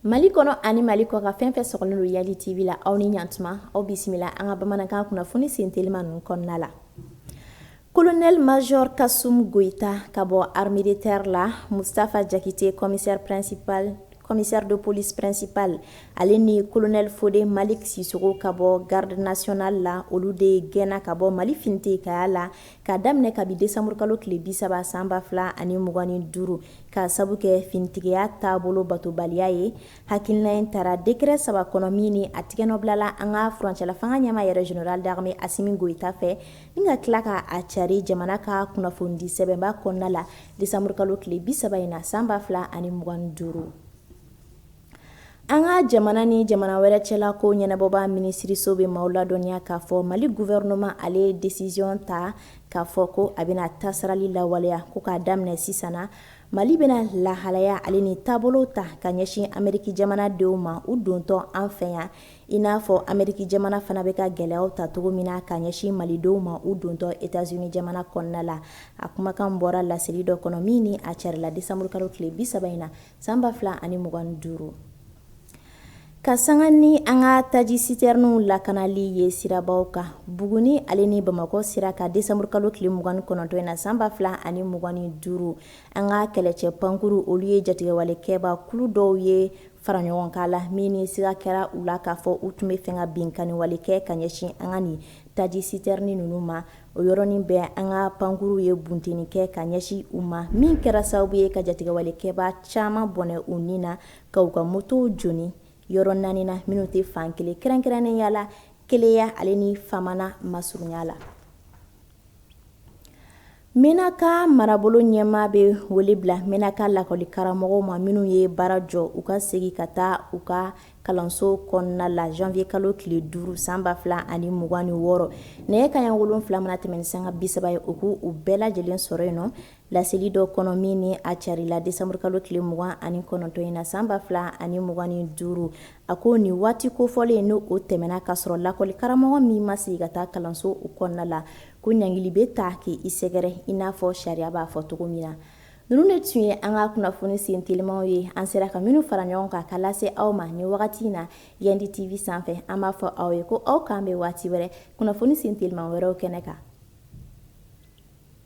Mali kɔnɔ ani mali kɔkan fɛn fɛn sɔgɔlen don yandi tv la aw ni ɲantuma aw bisimila an ka bamanankan kunnafoni sen teliman ninnu kɔnɔna la colonel major Kassoum Goita ka bɔ armée de terre la mustafa jakite commissaire principal Commissaire de police principal ale ni colonel Fode Malick Sissoko ka bɔ garde nationale la, olu de gɛnna ka bɔ Mali finitigiya la k'a daminɛ kabi décembre kalo tile 30 san 2025 k'a sabu kɛ finitigiya taabolo batobaliya ye. Hakilina in tara décret 3 kɔnɔ min ni a tigɛnɔbilala an ka furancɛlafanga ɲɛmaa yɛrɛ général d'armée Assimi Goita fɛ, ni ka tila k'a cari jamana ka kunnafonidisɛbɛnba kɔnɔna la. desanburukalo tile bi saba in na san ba fila ani mugan duuru an ka jamana ni jamana wɛrɛ cɛla ko ɲɛnabɔba minisiriso bɛ maaw ladɔnniya k'a fɔ mali gufɛrɛnɛma ale ye desisiɔn ta k'a fɔ ko a bɛna tasarali lawaleya ko k'a daminɛ sisan na mali bɛna lahalaya ale ni taabolo ta ka ɲɛsin ameriki jamanadenw ma u dontɔ an fɛ yan I n'a fɔ Ameriki jamana fana bɛ ka gɛlɛyaw ta cogo min na ka ɲɛsin malidenw ma u dontɔ Etats Unis jamana kɔnɔna la, a kumakan bɔra laseli dɔ kɔnɔ min ni a carila décembre kalo tile 30 in na san 2025. Ka sanga ni an ka taji sitɛriniw lakanali ye sirabaw kan, Buguni ale ni Bamakɔ sira kan décembre kalo tile 29 in na san 2025, an ka kɛlɛcɛ pankurun olu ye jatigɛwalekɛbaa kulu dɔw ye fara ɲɔgɔn kan la min ni siga kɛra u la k'a fɔ u tun bɛ fɛ ka binkanniwale kɛ ka ɲɛsin an ka nin taji sitɛrni ninnu ma o yɔrɔnin bɛɛ an ka pankurunw ye bunteni kɛ ka ɲɛsin u ma min kɛra sababu ye ka jatigɛwalekɛba caman bɔnɛ u ni na ka u ka motow jeni yɔrɔ naani na minnu tɛ fan kelen kɛrɛnkɛrɛnnenya la keleya ale ni famana masurunya la Menaka marabolo ɲɛmaa bɛ wele bila Menaka lakɔli karamɔgɔw ma minnu ye baara jɔ u ka segin ka taa u ka kalanso kɔnɔna la zanwuyekalo tile duuru san ba fila ani mugan ni wɔɔrɔ nɛgɛ kanɲɛ wolonwula mana tɛmɛn ni sanga bisaba ye u ko u bɛɛ lajɛlen sɔrɔ yen nɔ laseli dɔ kɔnɔ min ni a carila desanburukalo tile mugan ani kɔnɔntɔn in na san ba fila ani mugan ni duuru A ko nin waati kofɔlen ni o tɛmɛna ka sɔrɔ lakɔli karamɔgɔ min ma segin ka taa kalansow kɔnɔna la ko ɲangili bɛ taa k'i sɛgɛrɛ i n'a fɔ sariya b'a fɔ cogo min na ninnu de tun ye an ka kunnafoni sen telimaw ye an sera ka minnu fara ɲɔgɔn kan ka lase aw ma nin wagati in na yandi tv sanfɛ an b'a fɔ aw ye ko aw k'an bɛn waati wɛrɛ kunnafoni sen teliman wɛrɛw kɛnɛ kan